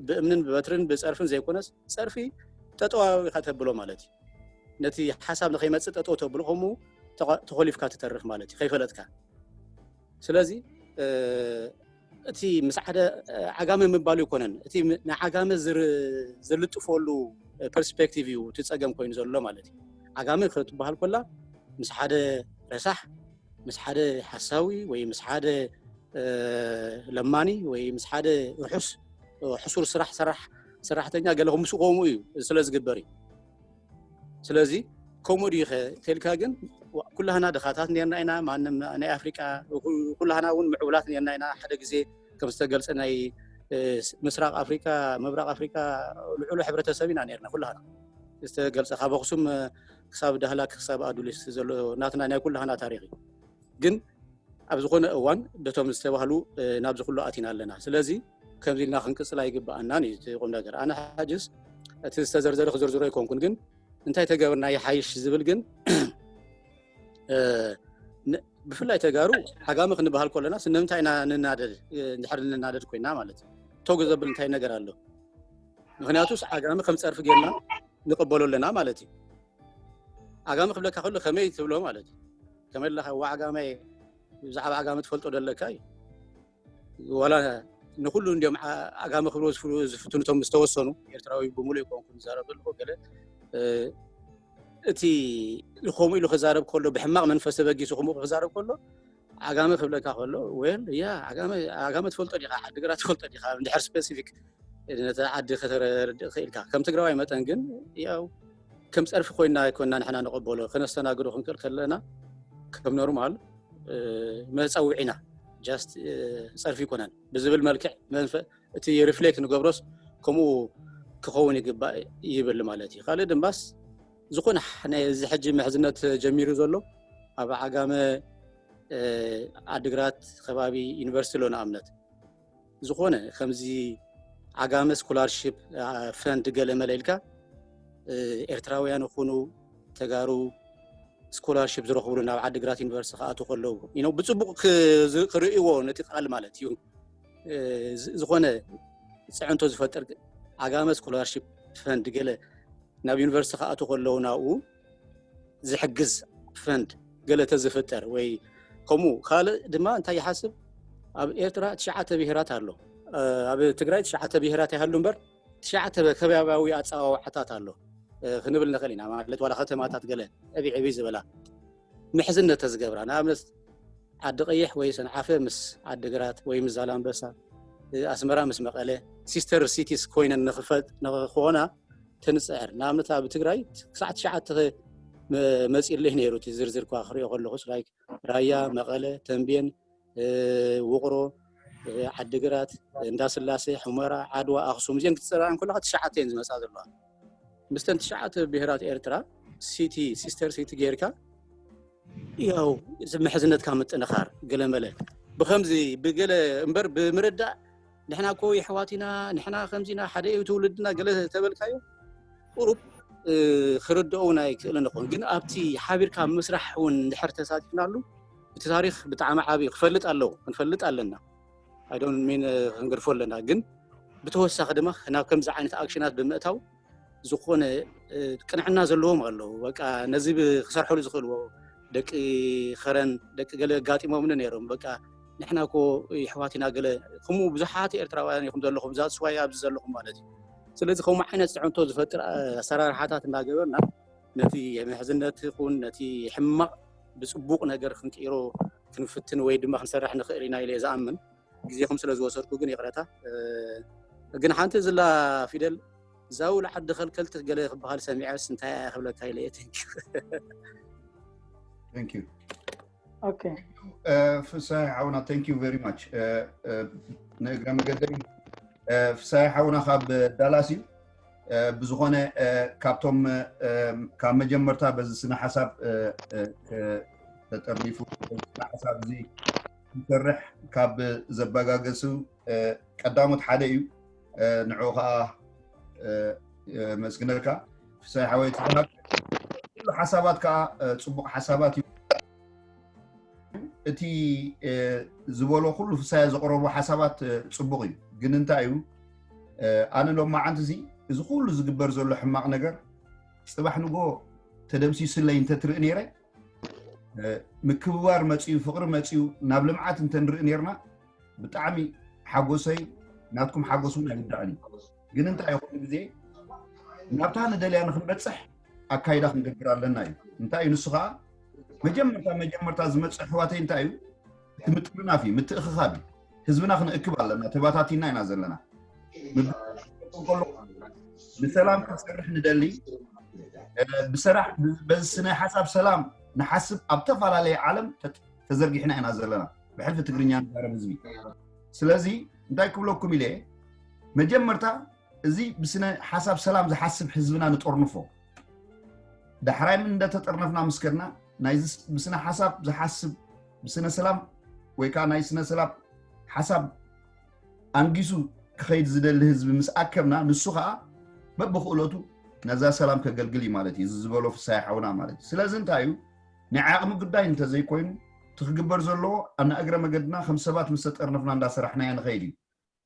Speaker 4: ብእምንን ብበትርን ብፀርፍን ዘይኮነስ ፀርፊ ጠጠዋዊ ከተብሎ ማለት እዩ ነቲ ሓሳብ ንከይመፅእ ጠጠው ተብሎ ከምኡ ተኮሊፍካ ትተርፍ ማለት እዩ ከይፈለጥካ ስለዚ እቲ ምስ ሓደ ዓጋመ ምባሉ ኣይኮነን እቲ ንዓጋመ ዝልጥፈሉ ፐርስፔክቲቭ እዩ እቲ ፀገም ኮይኑ ዘሎ ማለት እዩ ዓጋመ ክትበሃል ኮላ ምስ ሓደ ረሳሕ ምስ ሓደ ሓሳዊ ወይ ምስ ሓደ ለማኒ ወይ ምስ ሓደ ርሑስ ሕሱር ስራሕ ሰራሕ ሰራሕተኛ ገለ ከምሱ ከምኡ እዩ ስለ ዝግበር እዩ ስለዚ ከምኡ ድዩኸ ተልካ ግን ኩላህና ድኻታት ነርና ኢና ማንም ናይ ኣፍሪቃ ኩላህና እውን ምዕቡላት ነርና ኢና ሓደ ግዜ ከም ዝተገልፀ ናይ ምስራቅ ኣፍሪካ ምብራቅ ኣፍሪካ ልዑሉ ሕብረተሰብ ኢና ነርና ኩላህና ዝተገልፀ ካብ ኣክሱም ክሳብ ዳህላክ ክሳብ ኣዱሊስ ዘሎ ናትና ናይ ኩላህና ታሪክ እዩ ግን ኣብ ዝኾነ እዋን ደቶም ዝተባህሉ ናብዚ ኩሉ ኣቲና ኣለና ስለዚ ከምዚ ኢልና ክንቅፅል ኣይግበኣናን እዩ እቲ ቁም ነገር ኣነ ሓጅስ እቲ ዝተዘርዘረ ክዝርዝሮ ኣይኮንኩን ግን እንታይ ተገብርና ይሓይሽ ዝብል ግን ብፍላይ ተጋሩ ሓጋሚ ክንበሃል ከለና ስለምንታይ ኢና ንናደድ ድሕሪ ንናደድ ኮይና ማለት እዩ ተጉ ዘብል እንታይ ነገር ኣሎ ምክንያቱስ ዓጋሚ ከም ፀርፊ ጌርና ንቀበሎ ኣለና ማለት እዩ ዓጋመ ክብለካ ከሎ ከመይ ትብሎ ማለት እዩ ከመይ ኣለካ ዋ ዓጋመ ብዛዕባ ዓጋመ ትፈልጦ ደለካ እዩ ዋላ ንኩሉ እንዲም ዓጋመ ክብሎ ዝፍትኑቶም ዝተወሰኑ ኤርትራዊ ብምሉእ ይኮንኩ ዝዛረብ ዘለኩ ገለ እቲ ከምኡ ኢሉ ክዛረብ ከሎ ብሕማቅ መንፈስ ተበጊሱ ከምኡ ክዛረብ ከሎ ዓጋመ ክብለካ ከሎ ወል ያ ዓጋመ ትፈልጦ ዲኻ ዓዲግራት ትፈልጦ ዲኻ እንድሕር ስፔሲፊክ ነቲ ዓዲ ከተረድእ ክኢልካ ከም ትግራዋይ መጠን ግን ያው ከም ፀርፊ ኮይና ኣይኮና ንሕና ንቐበሎ ከነስተናግዶ ክንክእል ከለና ከም ኖርማል መፀውዒ ኢና ጃስት ፀርፊ ይኮነን ብዝብል መልክዕ እቲ ሪፍሌክት ንገብሮስ ከምኡ ክኸውን ይግባእ ይብል ማለት እዩ ካልእ ድማስ ዝኮነ ናይ እዚ ሕጂ ምሕዝነት ጀሚሩ ዘሎ ኣብ ዓጋመ ዓድግራት ከባቢ ዩኒቨርሲቲ ኣሎ ንኣብነት ዝኾነ ከምዚ ዓጋመ ስኮላርሽፕ ፈንድ ገለ መለ ኢልካ ኤርትራውያን ይኹኑ ተጋሩ ስኮላርሽፕ ዝረኽብሉ ናብ ዓዲግራት ዩኒቨርስቲ ክኣትዉ ከለዉ ብፅቡቅ ክርእይዎ ነቲ ቃል ማለት እዩ ዝኾነ ፅዕንቶ ዝፈጥር ዓጋመ ስኮላርሽፕ ፈንድ ገለ ናብ ዩኒቨርሲቲ ክኣቱ ከለዉ ናብኡ ዝሕግዝ ፈንድ ገለ ተዝፍጠር ወይ ከምኡ ካልእ ድማ እንታይ ይሓስብ ኣብ ኤርትራ ትሽዓተ ብሄራት ኣሎ ኣብ ትግራይ ትሽዓተ ብሄራት ይሃሉ እምበር ትሽዓተ ከባብያዊ ኣፀዋውዓታት ኣሎ ክንብል ንኽእል ኢና ማለት ዋላ ከተማታት ገለ ዕብይ ዕብይ ዝበላ ምሕዝነት ተዝገብራ ንኣብነት ዓዲ ቀይሕ ወይ ሰንዓፈ ምስ ዓዲ ግራት ወይ ምስ ዛላምበሳ ኣስመራ ምስ መቐለ ሲስተር ሲቲስ ኮይነን ንክኾና ትንፅዕር ንኣብነት ኣብ ትግራይ ክሳዕ ትሽዓተ መፂለይ ነይሩ እቲ ዝርዝር እኳ ክሪኦ ከለኹስ ራያ መቐለ ተንቤን ውቕሮ፣ ዓዲግራት፣ እንዳስላሴ፣ ሑመራ፣ ዓድዋ፣ ኣኽሱም እዚን ክትፅርኣን እንከለኻ ትሽዓተ እየን ዝመፃ ዘለዋ። ምስተን ትሽዓተ ብሄራት ኤርትራ ሲቲ ሲስተር ሲቲ ጌርካ ያው እዚ ምሕዝነትካ ምጥንኻር ገለመለ ብከምዚ ብገለ እምበር ብምርዳእ ንሕና እኮ የሕዋት ኢና ንሕና ከምዚ ኢና ሓደ እዩ ትውልድና ገለ ተበልካዮ ቁሩብ ክርድኦ እውን ኣይክእልን ይኸውን ግን ኣብቲ ሓቢርካ ምስራሕ እውን እንድሕር ተሳቲፍናሉ እቲ ታሪክ ብጣዕሚ ዓብዩ ክፈልጥ ኣለዎ ክንፈልጥ ኣለና ኣይዶን ሚን ክንገድፎ ኣለና ግን ብተወሳኺ ድማ ናብ ከምዚ ዓይነት ኣክሽናት ብምእታው ዝኾነ ቅንዕና ዘለዎም ኣለዉ በቃ ነዚ ክሰርሐሉ ዝኽእልዎ ደቂ ኸረን ደቂ ገለ ኣጋጢሞምኒ ነይሮም በቃ ንሕና ኮ ይሕዋት ኢና ገለ ከምኡ ብዙሓት ኤርትራውያን ኢኹም ዘለኹም እዛ ስዋይ ኣብዚ ዘለኹም ማለት እዩ ስለዚ ከምኡ ዓይነት ፅዕንቶ ዝፈጥር ኣሰራርሓታት እናገበርና ነቲ ምሕዝነት ይኹን ነቲ ሕማቕ ብፅቡቕ ነገር ክንቅይሮ ክንፍትን ወይ ድማ ክንሰርሕ ንኽእል ኢና ኢለ ዝኣምን ግዜኹም ስለ ዝወሰድኩ ግን ይቕረታ ግን ሓንቲ ዝላ ፊደል ዛው ልዓዲ ከልከልቲ ገለ ክበሃል ሰሚዐስ እንታይ እያ ክብለካ ኢለ እየ
Speaker 1: ቴንኪዩ ፍሳሒ ሓውና ቴንክ ዩ ቨሪ ማች ንእግረ መገደይ ፍሳሒ ሓውና ካብ ዳላስ እዩ ብዝኾነ ካብቶም ካብ መጀመርታ በዚ ስነ ሓሳብ ተጠርኒፉ ስነ ሓሳብ እዚ ክሰርሕ ካብ ዘበጋገሱ ቀዳሞት ሓደ እዩ ንዑ ከዓ መስግነልካ ፍሳይ ሓወይ ትበሃል ኩሉ ሓሳባት ከዓ ፅቡቅ ሓሳባት እዩ እቲ ዝበሎ ኩሉ ፍሳያ ዘቅረቡ ሓሳባት ፅቡቅ እዩ ግን እንታይ እዩ ኣነ ሎማዓንቲ እዚ እዚ ኩሉ ዝግበር ዘሎ ሕማቅ ነገር ፅባሕ ንጎ ተደምሲሱለይ እንተትርኢ ነይረ ምክብባር መፅዩ ፍቅሪ መፅዩ ናብ ልምዓት እንተንርኢ ነርና ብጣዕሚ ሓጎሰይ ናትኩም ሓጎስ እውን ኣይውዳእን እዩ ግን እንታይ እዩ ኩሉ ግዜ ናብታ ንደልያ ንክንበፅሕ ኣካይዳ ክንገብር ኣለና እዩ እንታይ እዩ ንሱ ከዓ መጀመርታ መጀመርታ ዝመፅእ ኣሕዋተይ እንታይ እዩ እቲ ምጥርናፍ እዩ ምትእኽኻብ እዩ ህዝብና ክንእክብ ኣለና ተባታቲና ኢና ዘለና ከሎ ንሰላም ክንሰርሕ ንደሊ እ፣ ብሰራሕ በዚ ስነ ሓሳብ ሰላም ንሓስብ ኣብ ተፈላለየ ዓለም ተ- ተዘርጊሕና ኢና ዘለና ብሕልፊ ትግርኛ ንዛረብ ህዝቢ ስለዚ እንታይ ክብለኩም ኢለ መጀመርታ እዚ ብስነ ሓሳብ ሰላም ዝሓስብ ህዝብና ንጠርንፎ ዳሕራይ እንደተጠርነፍና ምስ ከድና ናይ ብስነ ሓሳብ ዝሓስብ ብስነ ሰላም ወይ ከዓ ናይ ስነ ሰላም ሓሳብ ኣንጊሱ ክኸይድ ዝደሊ ህዝቢ ምስ ኣከብና ንሱ ከዓ በብክእለቱ ነዛ ሰላም ከገልግል እዩ ማለት እዩ እዚ ዝበሎ ፍሳይ ሓውና ማለት እዩ ስለዚ እንታይ እዩ ናይ ዓቕሚ ጉዳይ እንተዘይኮይኑ እቲ ክግበር ዘለዎ ኣና እግረ መገድና ከም ሰባት ምስ ተጠርነፍና እንዳሰራሕናዮ ንኸይድ እዩ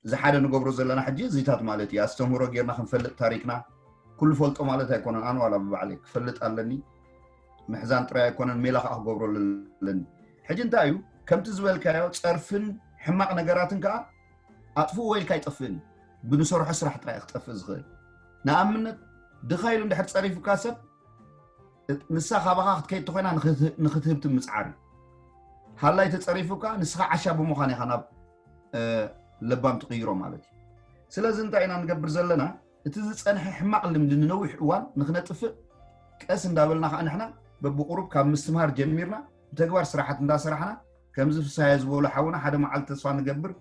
Speaker 1: እዚ ሓደ ንገብሮ ዘለና ሕጂ እዚታት ማለት እዩ ኣስተምህሮ ጌርና ክንፈልጥ ታሪክና ኩሉ ፈልጦ ማለት ኣይኮነን ኣነ ዋላ ብባዕለይ ክፈልጥ ኣለኒ ምሕዛን ጥራይ ኣይኮነን ሜላ ከዓ ክገብረሉ ኣለኒ ሕጂ እንታይ እዩ ከምቲ ዝበልካዮ ፀርፍን ሕማቅ ነገራትን ከዓ ኣጥፍኡ ወይልካ ኣይጠፍእን ብንሰርሖ ስራሕ ጥራይ ክጠፍእ ዝኽእል ንኣብነት ድኻ ኢሉ እንድሕር ፀሪፉካ ሰብ ንሳ ካባኻ ክትከይድ ተኮይና ንክትህብ ትምፅዓር እዩ ሃላይ ተፀሪፉካ ንስኻ ዓሻ ብምዃን ኢኻ ናብ ለባም ትቕይሮ ማለት እዩ ስለዚ እንታይ ኢና ንገብር ዘለና እቲ ዝፀንሐ ሕማቕ ልምዲ ንነዊሕ እዋን ንክነጥፍእ ቀስ እንዳበልና ከዓ ንሕና በብቁሩብ ካብ ምስትምሃር ጀሚርና ብተግባር ስራሓት እንዳሰራሕና ከምዚ ፍሳያ ዝበሉ ሓውና ሓደ መዓልቲ ተስፋ ንገብር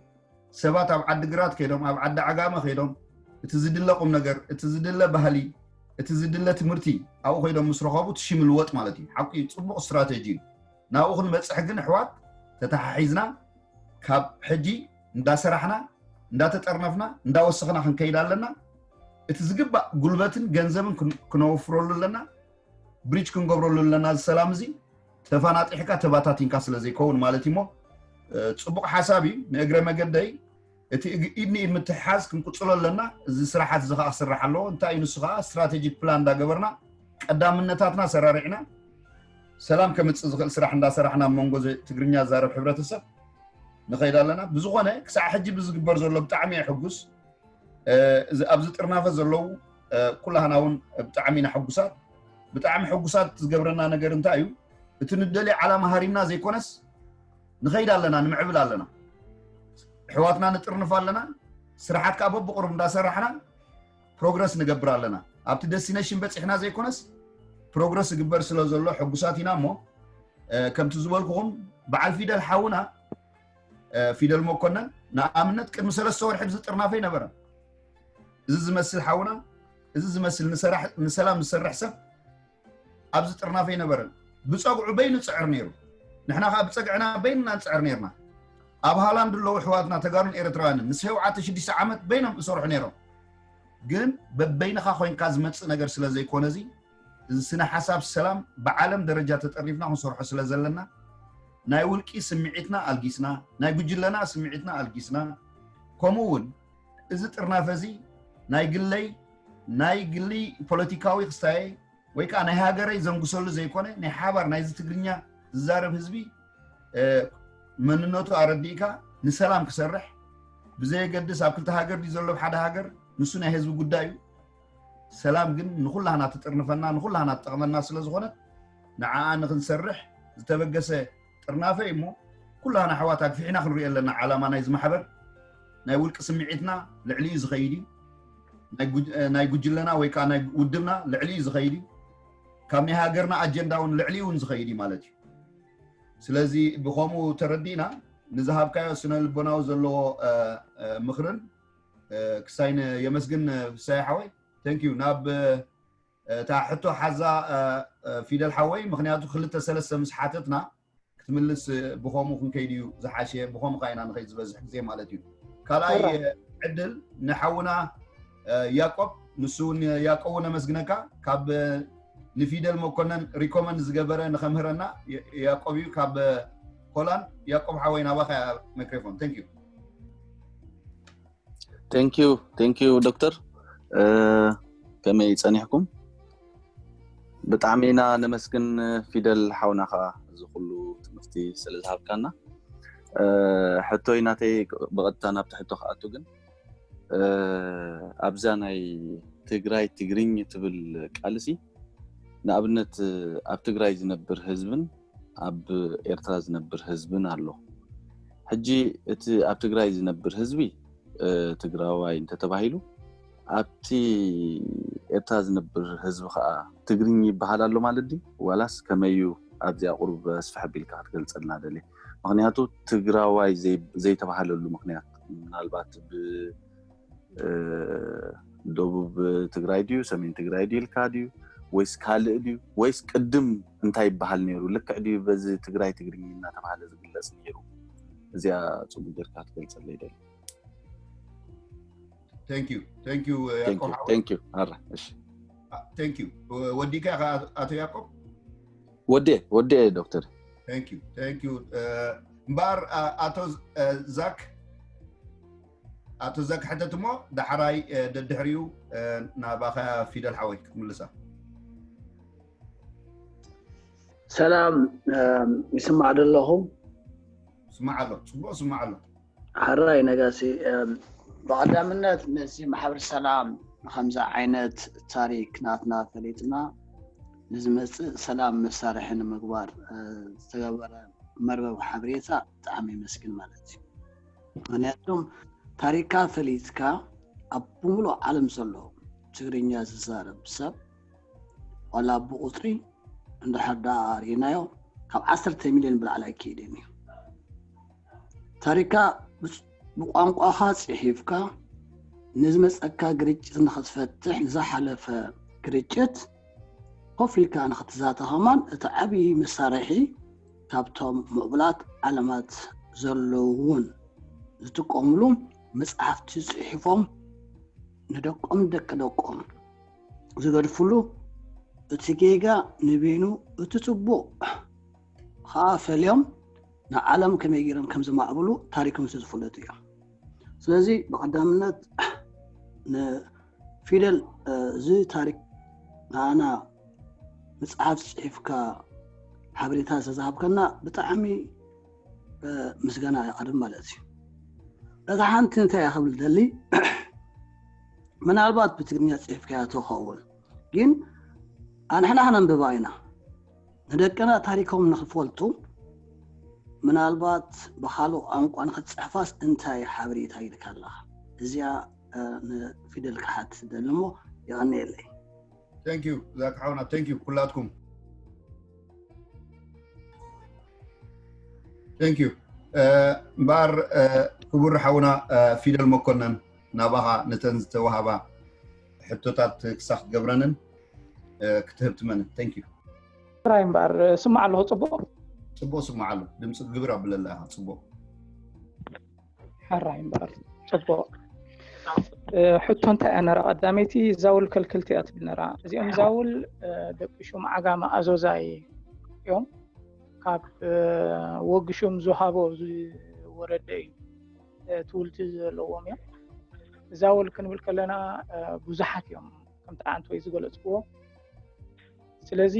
Speaker 1: ሰባት ኣብ ዓዲ ግራት ከይዶም ኣብ ዓዲ ዓጋመ ከይዶም እቲ ዝድለ ቁም ነገር እቲ ዝድለ ባህሊ እቲ ዝድለ ትምህርቲ ኣብኡ ከይዶም ምስ ረኸቡ ትሽም ልወጥ ማለት እዩ ሓቂ ፅቡቕ ስትራቴጂ እዩ ናብኡ ክንበፅሕ ግን ኣሕዋት ተተሓሒዝና ካብ ሕጂ እንዳሰራሕና እንዳተጠርነፍና እንዳወሰኽና ክንከይድ ኣለና እቲ ዝግባእ ጉልበትን ገንዘብን ክነወፍረሉ ኣለና ብሪጅ ክንገብረሉ ኣለና እዚ ሰላም እዚ ተፋናጢሕካ ተባታቲንካ ስለ ዘይከውን ማለት እዩ እሞ ፅቡቅ ሓሳብ እዩ ንእግረ መገደይ እቲ ኢድ ንኢድ ምትሕሓዝ ክንቅፅሎ ኣለና። እዚ ስራሓት እዚ ከዓ ክስራሕ ኣለዎ። እንታይ እዩ ንሱ ከዓ ስትራቴጂክ ፕላን እንዳገበርና ቀዳምነታትና ሰራሪዕና ሰላም ከምፅእ ዝኽእል ስራሕ እንዳሰራሕና ኣብ መንጎ ትግርኛ ዛረብ ሕብረተሰብ ንኸይድ ኣለና። ብዝኾነ ክሳዕ ሕጂ ብዝግበር ዘሎ ብጣዕሚ እየ ሕጉስ። ኣብዚ ጥርናፈ ዘለዉ ኩላህና እውን ብጣዕሚ ኢና ሕጉሳት። ብጣዕሚ ሕጉሳት ዝገብረና ነገር እንታይ እዩ? እቲ ንደልዮ ዓላማ ሃሪምና ዘይኮነስ ንኸይድ ኣለና ንምዕብል ኣለና ኣሕዋትና ንጥርንፍ ኣለና ስራሓት ከዓ በብቕሩብ እንዳሰራሕና ፕሮግረስ ንገብር ኣለና ኣብቲ ደስቲነሽን በፂሕና ዘይኮነስ ፕሮግረስ ዝግበር ስለ ዘሎ ሕጉሳት ኢና እሞ ከምቲ ዝበልኩኹም በዓል ፊደል ሓውና ፊደል መኮነን ንኣብነት ቅድሚ ሰለስተ ወርሒ ብዚ ጥርናፈ ነበረ እዚ ዝመስል ሓውና እዚ ዝመስል ንሰላም ዝሰርሕ ሰብ ኣብዚ ጥርናፈ ኣይነበረን ብፀግዑ በይኑ ፅዕር ነይሩ ንሕና ከዓ ብፀግዕና በይንና ንፅዕር ነርና ኣብ ሃላንድ ኣለዉ ኣሕዋትና ተጋሩን ኤርትራውያንን ምስ ሸውዓተ ሽዱሽተ ዓመት በይኖም እሰርሑ ነይሮም ግን በበይንኻ ኮንካ ዝመፅእ ነገር ስለ ዘይኮነ እዚ እዚ ስነ ሓሳብ ሰላም ብዓለም ደረጃ ተጠሪፍና ክንሰርሖ ስለ ዘለና ናይ ውልቂ ስምዒትና ኣልጊስና ናይ ጉጅለና ስምዒትና ኣልጊስና ከምኡ እውን እዚ ጥርናፈ እዚ ናይ ግለይ ናይ ግሊ ፖለቲካዊ ክስታየ ወይ ከዓ ናይ ሃገረይ ዘንግሰሉ ዘይኮነ ናይ ሓባር ናይዚ ትግርኛ ዝዛረብ ህዝቢ መንነቱ ኣረዲእካ ንሰላም ክሰርሕ ብዘየገድስ ኣብ ክልተ ሃገር ድዩ ዘሎ ሓደ ሃገር ንሱ ናይ ህዝቢ ጉዳይ እዩ ሰላም ግን ንኩላህና ትጥርንፈና ንኩላህና ትጠቕመና ስለዝኾነት ንዓኣ ንክንሰርሕ ዝተበገሰ ጥርናፈ እዩ እሞ ኩላና ኣሕዋት ኣግፊሕና ክንሪኦ ኣለና ዓላማ ናይዚ ማሕበር ናይ ውልቂ ስምዒትና ልዕሊኡ ዝኸይድ እዩ ናይ ጉጅለና ወይ ከዓ ናይ ውድብና ልዕሊ እዩ ዝኸይድ እዩ ካብ ናይ ሃገርና ኣጀንዳ እውን ልዕሊ እውን ዝኸይድ እዩ ማለት እዩ ስለዚ ብከምኡ ተረዲእና ንዝሃብካዮ ስነ ልቦናዊ ዘለዎ ምክርን ክሳይ የመስግን ፍሳይ ሓወይ ተንኪዩ ናብ እታ ሕቶ ሓዛ ፊደል ሓወይ ምክንያቱ ክልተ ሰለስተ ምስ ሓተትና ክትምልስ ብከምኡ ክንከይድ እዩ ዝሓሸ ብከምኡ ካ ኢና ንኸይድ ዝበዝሕ ግዜ ማለት እዩ ካልኣይ ዕድል ንሓውና ያቆብ ንሱ እውን ያቆብ እውን ኣመስግነካ ካብ ንፊደል መኮነን ሪኮመንድ ዝገበረ ንከምህረና ያቆብ እዩ ካብ ሆላንድ ያቆብ ሓወይ ናባኻ ማይክሮፎን ተንክ ዩ
Speaker 6: ቴንኪዩ ቴንኪዩ ዶክተር ከመይ ፀኒሕኩም ብጣዕሚ ኢና ነመስግን ፊደል ሓውና ከዓ እዚ ኩሉ ትምህርቲ ስለ ዝሃብካና ሕቶይ ናተይ ብቐጥታ ናብቲ ሕቶ ክኣቱ ግን ኣብዛ ናይ ትግራይ ትግርኝ ትብል ቃልሲ ንኣብነት ኣብ ትግራይ ዝነብር ህዝብን ኣብ ኤርትራ ዝነብር ህዝብን ኣሎ ሕጂ እቲ ኣብ ትግራይ ዝነብር ህዝቢ ትግራዋይ እንተተባሂሉ ኣብቲ ኤርትራ ዝነብር ህዝቢ ከዓ ትግርኝ ይበሃል ኣሎ ማለት ድዩ ዋላስ ከመዩ ኣብዚኣ ቁርብ ኣስፍሕ ኣቢልካ ክትገልፀልና ደልየ ምክንያቱ ትግራዋይ ዘይተባሃለሉ ምክንያት ምናልባት ደቡብ ትግራይ ድዩ ሰሜን ትግራይ ድዩ ኢልካ ድዩ ወይስ ካልእ ድዩ ወይስ ቅድም እንታይ ይበሃል ነይሩ ልክዕ ድዩ በዚ ትግራይ ትግርኛ እናተባሃለ ዝግለፅ ነይሩ እዚኣ ፅቡቅ ጌርካ ትገልፀለይ ደሊ
Speaker 1: ወዲካ
Speaker 6: ኢኻ ኣቶ
Speaker 1: ያቆብ ወዴ
Speaker 6: ወዴ ዶክተር
Speaker 1: እምበኣር ኣቶ ዛክ ኣቶ ዘክ ሕተት እሞ ዳሕራይ ደድሕሪኡ ናባኻ ፊደል ሓወይ ክትምልሳ
Speaker 5: ሰላም ይስማዕ ዶ ኣለኹም
Speaker 1: ስማዕ ኣሎ ፅቡቅ ስማዕ ኣሎ ሓራይ
Speaker 5: ነጋሲ ብቀዳምነት ነዚ ማሕበር ሰላም ከምዚ ዓይነት ታሪክ ናትና ፈሊጥና ንዝመፅእ ሰላም መሳርሒ ንምግባር ዝተገበረ መርበብ ሓበሬታ ብጣዕሚ የመስግን ማለት እዩ ምክንያቱም ታሪካ ፈሊጥካ ኣብ ብምሉእ ዓለም ዘሎ ትግርኛ ዝዛረብ ሰብ ዋላ ብቁፅሪ እንድሕር ዳኣ ሪኢናዮ ካብ ዓሰርተ ሚልዮን ብላዕሊ ኣይክኢልን እዩ ታሪካ ብቋንቋኻ ፅሒፍካ ንዝመፀካ ግርጭት ንክትፈትሕ ንዝሓለፈ ግርጭት ኮፍ ኢልካ ንክትዛተ ከማን እቲ ዓብዪ መሳርሒ ካብቶም ምዕቡላት ዓለማት ዘለዉ እውን ዝጥቀምሉ መፅሓፍቲ ፅሒፎም ንደቆም ደቂ ደቆም ዝገድፍሉ እቲ ጌጋ ንበይኑ እቲ ፅቡቕ ኸዓ ፈልዮም ንዓለም ከመይ ገይሮም ከም ዘማዕብሉ ታሪኮም ስለዝፈለጡ እዮም። ስለዚ ብቀዳምነት ንፊደል እዚ ታሪክ ንኣና መፅሓፍ ፅሒፍካ ሓበሬታ ዝተዝሃብከና ብጣዕሚ ምስጋና ይቐርብ ማለት እዩ እታ ሓንቲ እንታይ እያ ክብል ደሊ ምናልባት ብትግርኛ ፅሒፍካያ ተኸውን ግን ኣንሕና ክነንብባ ኢና ንደቅና ታሪኮም ንክፈልጡ ምናልባት ብካልኦ ቋንቋ ንክትጽሕፋስ እንታይ ሓበሬታ ኢልካ ኣለካ እዚኣ ንፊደል ክሓትት ይደሊ እሞ የቀንየለይ። Thank
Speaker 1: you ዛኪ ሓውና thank you ኩላትኩም thank you እምበኣር ክቡር ሓውና ፊደል መኮነን ናባኻ ነተን ዝተዋሃባ ሕቶታት ክሳብ ክትገብረንን ክትህብ ትመንን ታንክ ዩ ጥራይ እምበኣር
Speaker 2: ስማዕ ኣለኹ
Speaker 1: ፅቡቅ ፅቡቅ ስማዕ ኣሎ ድምፂ ግብር
Speaker 2: ኣብለላ
Speaker 1: ኢኻ ፅቡቅ
Speaker 2: ሕራይ እምበኣር ፅቡቅ ሕቶ እንታይ እያ ነራ ቀዳመይቲ ዛውል ከልክልቲ እያ ትብል ነራ እዚኦም ዛውል ደቂ ሹም ዓጋመ ኣዞዛይ እዮም ካብ ወግሹም ዝሃቦ ዝወረደ እዩ ትውልቲ ዘለዎም እዮም እዛ ወል ክንብል ከለና ብዙሓት እዮም ከምቲ ዓንት ወይ ዝገለፅዎ ስለዚ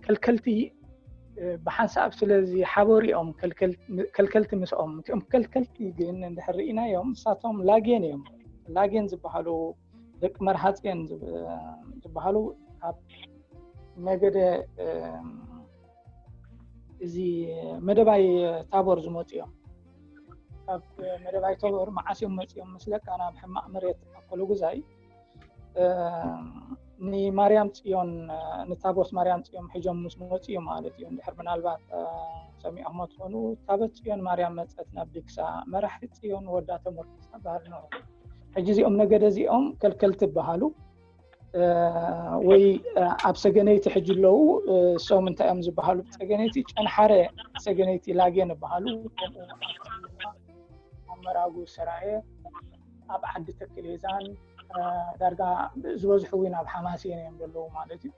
Speaker 2: ከልከልቲ ብሓንሳብ ስለዚ ሓበሩ እዮም ከልከልቲ ምስኦም እም ከልከልቲ ግን እንድሕርኢና እዮም ንሳቶም ላጌን እዮም ላጌን ዝበሃሉ ደቂ መርሃፅን ዝበሃሉ ካብ ነገደ እዚ መደባይ ታቦር ዝመፁ እዮም ካብ መደባይ ታቦር መዓስ እዮም መፅኦም ምስለካ ናብ ሕማቅ መሬት ኣኮሎጉዛይ ንማርያም ፅዮን ንታቦት ማርያም ፅዮን ሒጆም ምስ መፁ እዮም ማለት እዩ እንድሕር ምናልባት ሰሚዖሞ ትኾኑ ታቦት ፅዮን ማርያም መፀት ናብ ድግሳ መራሒ ፅዮን ወዳ ተመርኩሳ ባህል ነው ሕጂ እዚኦም ነገደ እዚኦም ከልከልቲ ይበሃሉ ወይ ኣብ ሰገነይቲ ሕጂ ኣለዉ ሶም እንታይ እዮም ዝበሃሉ ሰገነይቲ ጨንሓረ ሰገነይቲ ላጌን ይበሃሉ ኣብ መራጉ ሰራየ ኣብ ዓዲ ተክሌዛን ዳርጋ ዝበዝሑ እውን ኣብ ሓማሴን እዮም ዘለዉ ማለት እዩ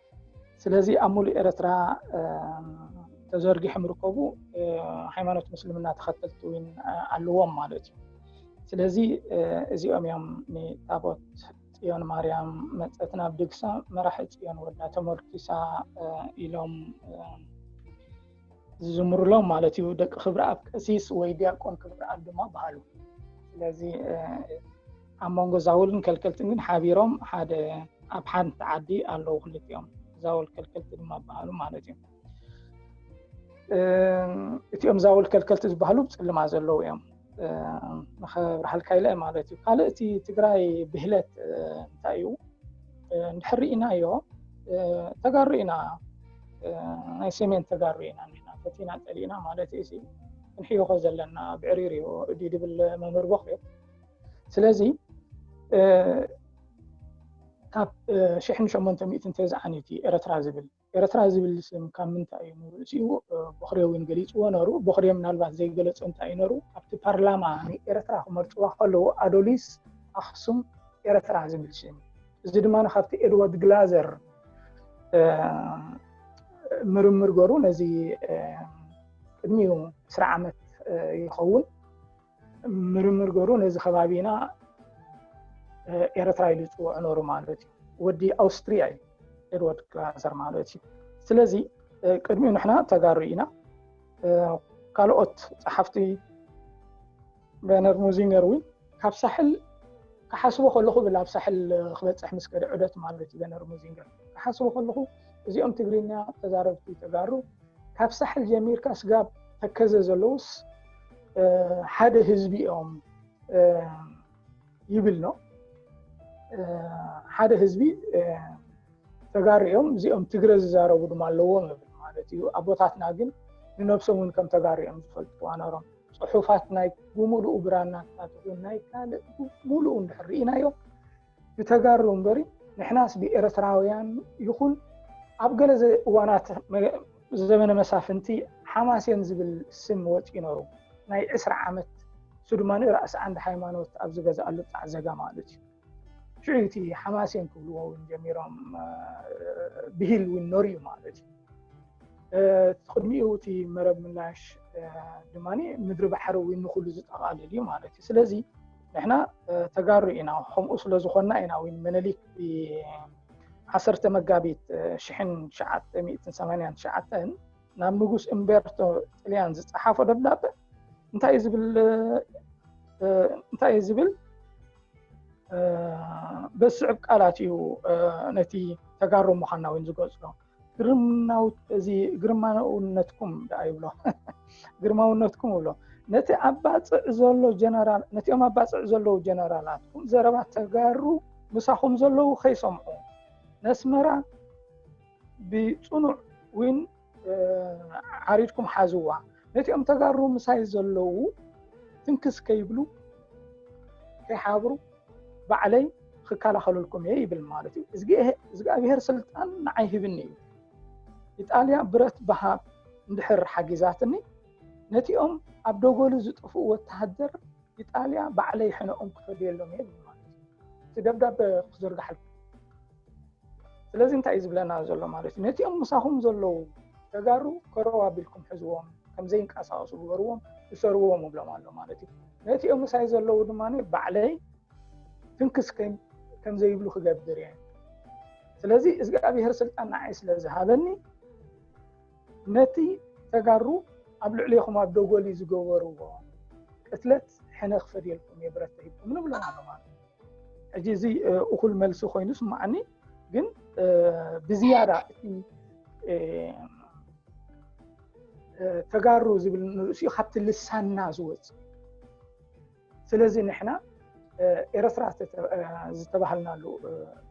Speaker 2: ስለዚ ኣብ ሙሉእ ኤረትራ ተዘርጊሖም ርከቡ ሃይማኖት ምስልምና ተኸተልቲ እውን ኣለዎም ማለት እዩ ስለዚ እዚኦም እዮም ንታቦት ፅዮን ማርያም መፀት ናብ ድግሳ መራሒ ፅዮን ወዳ ተመርኪሳ ኢሎም ዝዝምሩሎም ማለት እዩ ደቂ ክብሪ ኣብ ቀሲስ ወይ ዲያቆን ክብሪ ኣብ ድማ በሃሉ ስለዚ ኣብ መንጎ ዛውልን ከልከልትን ግን ሓቢሮም ሓደ ኣብ ሓንቲ ዓዲ ኣለዉ ክልቲኦም ዛውል ከልከልቲ ድማ በሃሉ ማለት እዩ እቲኦም ዛውል ከልከልቲ ዝበሃሉ ብፅልማ ዘለዉ እዮም ንኸብርሃልካ ኢለ ማለት እዩ ካልእ እቲ ትግራይ ብህለት እንታይ እዩ እንድሕር ርኢናዮ ተጋሩ ኢና ናይ ሰሜን ተጋሩ ኢና ንሕና ፈቲና ፀሊእና ማለት እዩ ክንሕይኾ ዘለና ብዕሪር እዩ እዲ ድብል መምህር ቦክ እዩ ስለዚ ካብ ሽሕን ሸሞንተ ሚእቲ እንተዝዓኒቲ ኤረትራ ዝብል ኤረትራ ዝብል ስም ካብ ምንታይ እዩ ንርእሲኡ ቦኽሪ ዊን ገሊጽዎ ነሩ ቦኽሪ ምናልባት ዘይገለጾ እንታይ እዩ ነሩ ኣብቲ ፓርላማ ንኤረትራ ክመርጽዋ ከለዉ ኣዶሊስ ኣኽሱም ኤረትራ ዝብል ስም እዩ እዚ ድማ ካብቲ ኤድዋርድ ግላዘር ምርምር ገሩ ነዚ ቅድሚኡ ዕስራ ዓመት ይኸውን ምርምር ገሩ ነዚ ከባቢና ኤረትራ ኢሉ ይፅውዖ ነሩ ማለት እዩ ወዲ ኣውስትሪያ እዩ ኤድዋርድ ክላንሰር ማለት እዩ ስለዚ ቅድሚኡ ንሕና ተጋሩ ኢና ካልኦት ፀሓፍቲ በነር ሙዚንገር እውን ካብ ሳሕል ክሓስቦ ከለኹ ብል ኣብ ሳሕል ክበፅሕ ምስ ከደ ዑደት ማለት እዩ በነር ሙዚንገር ክሓስቦ ከለኹ እዚኦም ትግርኛ ተዛረብቲ ተጋሩ ካብ ሳሕል ጀሚርካ ስጋብ ተከዘ ዘለውስ ሓደ ህዝቢ እዮም ይብል ነው። ሓደ ህዝቢ ተጋሩ እዮም እዚኦም ትግረ ዝዛረቡ ድማ ኣለዎም ብል ማለት እዩ። ኣቦታትና ግን ንነብሶም እውን ከም ተጋሩ እዮም ዝፈልጥዋ ነሮም። ፅሑፋት ናይ ብምሉኡ ብራናታት ናይ ካልእ ብምሉኡ እንድሕር ርኢናዮ ብተጋሩ እምበሪ ንሕናስ ብኤረትራውያን ይኹን ኣብ ገለ እዋናት ዘበነ መሳፍንቲ ሓማሴን ዝብል ስም ወጽዩ ነሩ ናይ ዕስራ ዓመት እሱ ድማ ራእሲ ዓንድ ሃይማኖት ኣብ ዝገዛኣሉ ጣዕ ዘጋ ማለት እዩ ሽዑ እቲ ሓማሴን ክብልዎ ውን ጀሚሮም ብሂል ውን ነሩ እዩ ማለት እዩ ቅድሚኡ እቲ መረብ ምላሽ ድማ ምድሪ ባሕሪ ውን ንኩሉ ዝጠቓልል እዩ ማለት እዩ ስለዚ ንሕና ተጋሩ ኢና ከምኡ ስለ ዝኾንና ኢና ውን ምኒሊክ ብ ዓሰርተ መጋቢት ሽሕን ትሽዓተ ሚእትን ሰማንያን ትሽዓተን ናብ ንጉስ እምቤርቶ ጥልያን ዝጸሓፎ ደብዳበ እንታይ ዝብል እንታይ እዩ ዝብል በዝስዕብ ቃላት እዩ ነቲ ተጋሩ ምዃንና ውን ዝገልጾ እዚ ግርማውነትኩም ደኣ ይብሎ ግርማውነትኩም ይብሎ ነቲ ኣብ ባፅዕ ዘሎ ጀነራል ነቲኦም ኣብ ባፅዕ ዘለዉ ጀነራላትኩም ዘረባ ተጋሩ ምሳኹም ዘለዉ ከይሰምዑ ነስመራ ብፅኑዕ ውን ዓሪድኩም ሓዝዋ ነቲኦም ተጋሩ ምሳይ ዘለዉ ትንክስ ከይብሉ ከይሓብሩ ባዕለይ ክከላኸለልኩም እየ ይብል ማለት እዩ እዝግኣብሄር ስልጣን ንዓይ ሂብኒ እዩ ኢጣልያ ብረት ብሃብ እንድሕር ሓጊዛትኒ ነቲኦም ኣብ ደጎሉ ዝጥፍኡ ወተሃደር ኢጣልያ ባዕለይ ሕነኦም ክፈድየሎም እየ ማለት እዩ እቲ ደብዳበ ክዝርጋሓልኩም ስለዚ እንታይ እዩ ዝብለና ዘሎ ማለት እዩ ነቲኦም ምሳኹም ዘለዉ ተጋሩ ከረው ኣቢልኩም ሕዝዎም ከምዘይንቀሳቀሱ ግበርዎም እሰርዎም እብሎም ኣሎ ማለት እዩ ነቲኦም ምሳይ ዘለዉ ድማ ባዕለይ ትንክስ ከምዘይብሉ ክገብር እየ ስለዚ እግዚኣብሄር ስልጣን ንዓይ ስለ ዝሃበኒ ነቲ ተጋሩ ኣብ ልዕሊኹም ኣብ ደጎሊ ዝገበርዎ ቅትለት ሕነ ክፈድየልኩም እየ ብረት ተሂብኩም ንብሎም ኣሎ ማለት እዩ ሕጂ እዚ እኹል መልሲ ኮይኑ ስማዓኒ ግን ብዝያዳ እቲ ተጋሩ ዝብል ንርእሲኡ ካብቲ ልሳንና ዝወፅ ስለዚ ንሕና ኤረትራ ዝተባሃልናሉ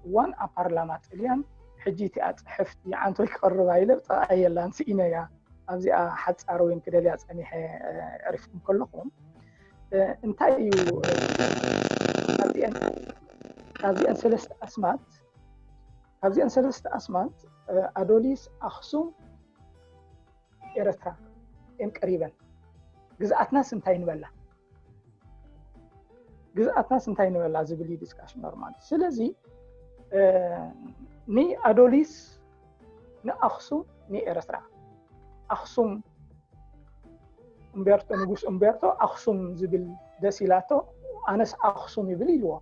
Speaker 2: እዋን ኣብ ፓርላማ ጥልያን ሕጂ እቲኣ ፅሕፍቲ ዓንቶይ ክቐርብ ኣይለ ጥቓ የላን ስኢነያ ኣብዚኣ ሓፃር ወይን ክደልያ ፀኒሐ ዕሪፍኩም ከለኹም እንታይ እዩ ካብዚአን ሰለስተ ኣስማት ካብዚአን ሰለስተ ኣስማት ኣዶሊስ ኣክሱም ኤረትራ እየን ቀሪበን ግዝኣትናስ እንታይ ንበላ ግዝኣትናስ እንታይ ንበላ ዝብል ዩ ዲስካሽን ኖርማል ስለዚ ንኣዶሊስ ንኣክሱም ንኤረትራ ኣክሱም እምቤርቶ ንጉስ እምቤርቶ ኣክሱም ዝብል ደስ ኢላቶ ኣነስ ኣክሱም ይብል ኢልዎ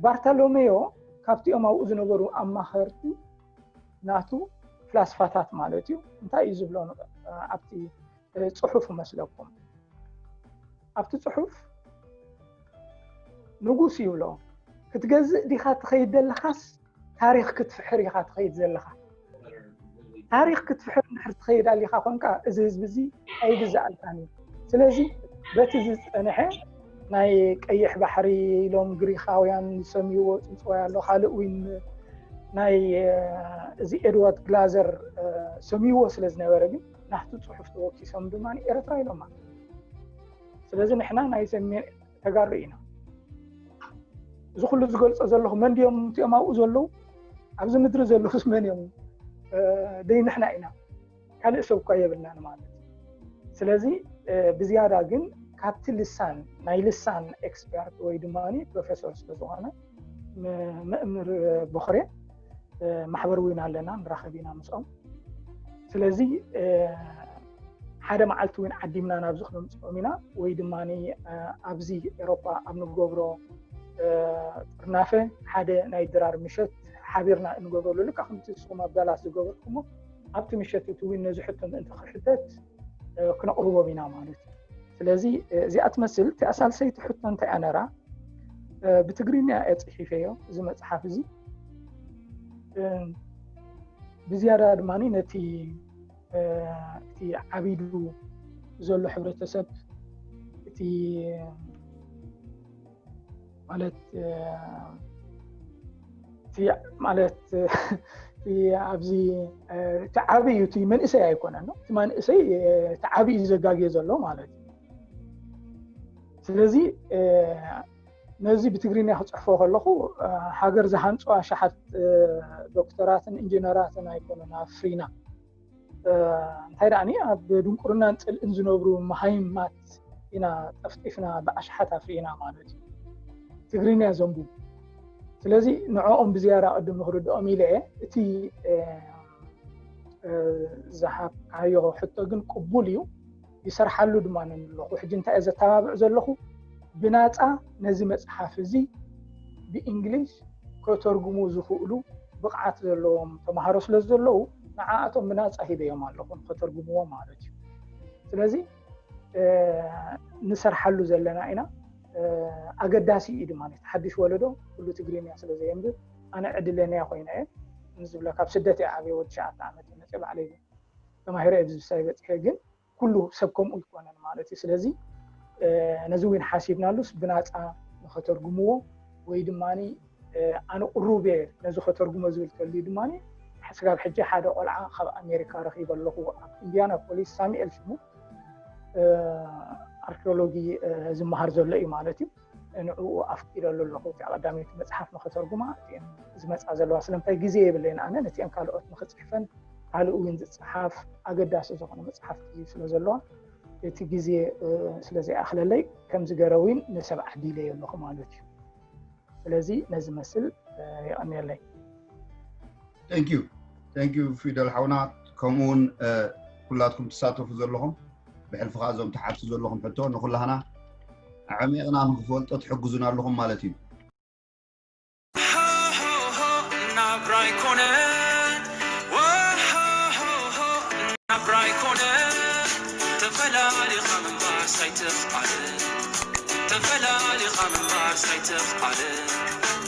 Speaker 2: ባርተሎሜዮ ካብቲኦም ኣብኡ ዝነበሩ ኣማኸርቲ ናቱ ፍላስፋታት ማለት እዩ እንታይ እዩ ዝብሎ ኣብቲ ፅሑፍ መስለኩም ኣብቲ ፅሑፍ ንጉስ ይብሎ ክትገዝእ ዲኻ ትኸይድ ዘለኻስ ታሪኽ ክትፍሕር ኢኻ ትኸይድ ዘለኻ ታሪኽ ክትፍሕር ንድሕር ትኸይድ ኣሊኻ ኮንካ እዚ ህዝቢ እዚ ኣይግዛኣልካን እዩ ስለዚ በቲ ዝፀንሐ ናይ ቀይሕ ባሕሪ ኢሎም ግሪኻውያን ዝሰምይዎ ፅንፅዋይ ኣሎ ካልእ እውን ናይ እዚ ኤድዋርድ ግላዘር ሰምይዎ ስለ ዝነበረ ግን ናብቲ ፅሑፍ ተወኪሶም ድማ ኤርትራ ኢሎማ ስለዚ ንሕና ናይ ሰሜን ተጋሩ ኢና እዚ ኩሉ ዝገልፆ ዘለኹ መን ድዮም እቲኦም ኣብኡ ዘለዉ ኣብዚ ምድሪ ዘለኹስ መን እዮም ደይ ንሕና ኢና ካልእ ሰብ እኳ የብልናን ማለት ስለዚ ብዝያዳ ግን ካብቲ ልሳን ናይ ልሳን ኤክስፐርት ወይ ድማ ፕሮፌሰር ስለዝኾነ መእምር ቦኽሬ ማሕበር እውን ኣለና ንራኸብ ኢና ምስኦም ስለዚ ሓደ መዓልቲ እውን ዓዲምና ናብዚ ክነምፅኦም ኢና ወይ ድማ ኣብዚ ኤሮፓ ኣብ ንገብሮ ጥርናፈ ሓደ ናይ ድራር ምሸት ሓቢርና እንገብረሉ ልካ ከምቲ ንስኹም ኣብ ዳላስ ዝገበርኩሞ ኣብቲ ምሸት እቲ እውን ነዚ ሕቶ ምእንቲ ክሕተት ክነቕርቦም ኢና ማለት እዩ ስለዚ እዚኣ ትመስል እቲኣ ሳልሰይቲ ሕቶ እንታይ እያ ነራ ብትግርኛ እየ ፅሒፈዮ እዚ መፅሓፍ እዚ ብዝያዳ ድማ ነቲ እቲ ዓቢዱ ዘሎ ሕብረተሰብ እቲ ማለት ማለት ኣብዚ እቲ ዓብ እዩ እቲ መንእሰይ ኣይኮነ እቲ መንእሰይ እቲ ዓብ እዩ ዘጋግየ ዘሎ ማለት እዩ ስለዚ ነዚ ብትግርኛ ክፅሕፎ ከለኩ ሃገር ዝሃንፁ ኣሸሓት ዶክተራትን ኢንጀነራትን ኣይኮኑን ኣፍሪና እንታይ ደኣኒ ኣብ ድንቁርናን ፅልእን ዝነብሩ መሃይማት ኢና ጠፍጢፍና ብኣሽሓት ኣፍሪና ማለት እዩ ትግርኛ ዘንብቡ ስለዚ ንዕኦም ብዝያዳ ቅድም ንክርድኦም ኢለ እየ እቲ ዝሃብካዮ ሕቶ ግን ቅቡል እዩ ይሰርሓሉ ድማ ነን ኣለኹ። ሕጂ እንታይ እየ ዘተባብዕ ዘለኹ ብናጻ ነዚ መጽሓፍ እዚ ብእንግሊዝ ከተርጉሙ ዝኽእሉ ብቕዓት ዘለዎም ተማሃሮ ስለ ዘለዉ ንዓኣቶም ብናጻ ሂበዮም ኣለኹ ንኸተርጉምዎ ማለት እዩ። ስለዚ ንሰርሓሉ ዘለና ኢና ኣገዳሲ እዩ ድማ ሓድሽ ወለዶ ኩሉ ትግርኛ ስለ ዘየንብብ ኣነ ዕድለንያ ኮይነ እየ ንዝብለ ካብ ስደት እየ ዓብየ ወዲ ሸዓተ ዓመት መፅእ ባዕለይ ተማሂረ ኣብዚ ምሳይ በፂሐ ግን ኩሉ ሰብ ከምኡ ኣይኮነን ማለት እዩ ስለዚ ነዚ እውን ሓሲብናሉስ ብናፃ ንኸተርጉምዎ ወይ ድማ ኣነ ቅሩብ እየ ነዚ ከተርጉሞ ዝብል ተልዩ ድማ ስጋብ ሕጂ ሓደ ቆልዓ ካብ ኣሜሪካ ረኪበ ኣለኹ ኣብ ኢንድያና ፖሊስ ሳሙኤል ሽሙ ኣርኪኦሎጂ ዝመሃር ዘሎ እዩ ማለት እዩ ንዕኡ ኣፍቂደሉ ኣለኹ እቲኣ ቀዳመይቲ መፅሓፍ ንኸተርጉማ እቲኤን ዝመፃ ዘለዋ ስለምንታይ ግዜ የብለይን ኣነ ነቲኤን ካልኦት ንኽፅሕፈን ካልእ እውን ዝፅሓፍ ኣገዳሲ ዝኾነ መፅሓፍቲ ስለ ዘለዋ እቲ ግዜ ስለ ዘይኣኽለለይ ከምዚ ገረ እውን ንሰብ ዓዲለዮ ኣለኹ ማለት እዩ ስለዚ ነዚ መስል የቐኒየለይ ቴንክዩ
Speaker 1: ቴንክዩ ፊደል ሓውና ከምኡ እውን ኩላትኩም ትሳተፉ ዘለኹም ብሕልፊ ከዓ እዞም ትሓቱ ዘለኹም ሕቶ ንኩላህና ኣዕሚቕና ንክፈልጦ ትሕግዙና ኣለኹም ማለት እዩ ናብራ ይኮነ ናብራ
Speaker 7: ይኮነ ተፈላሊኻ ምንባር ሳይትኽኣል ተፈላሊኻ ምንባር ሳይትኽኣል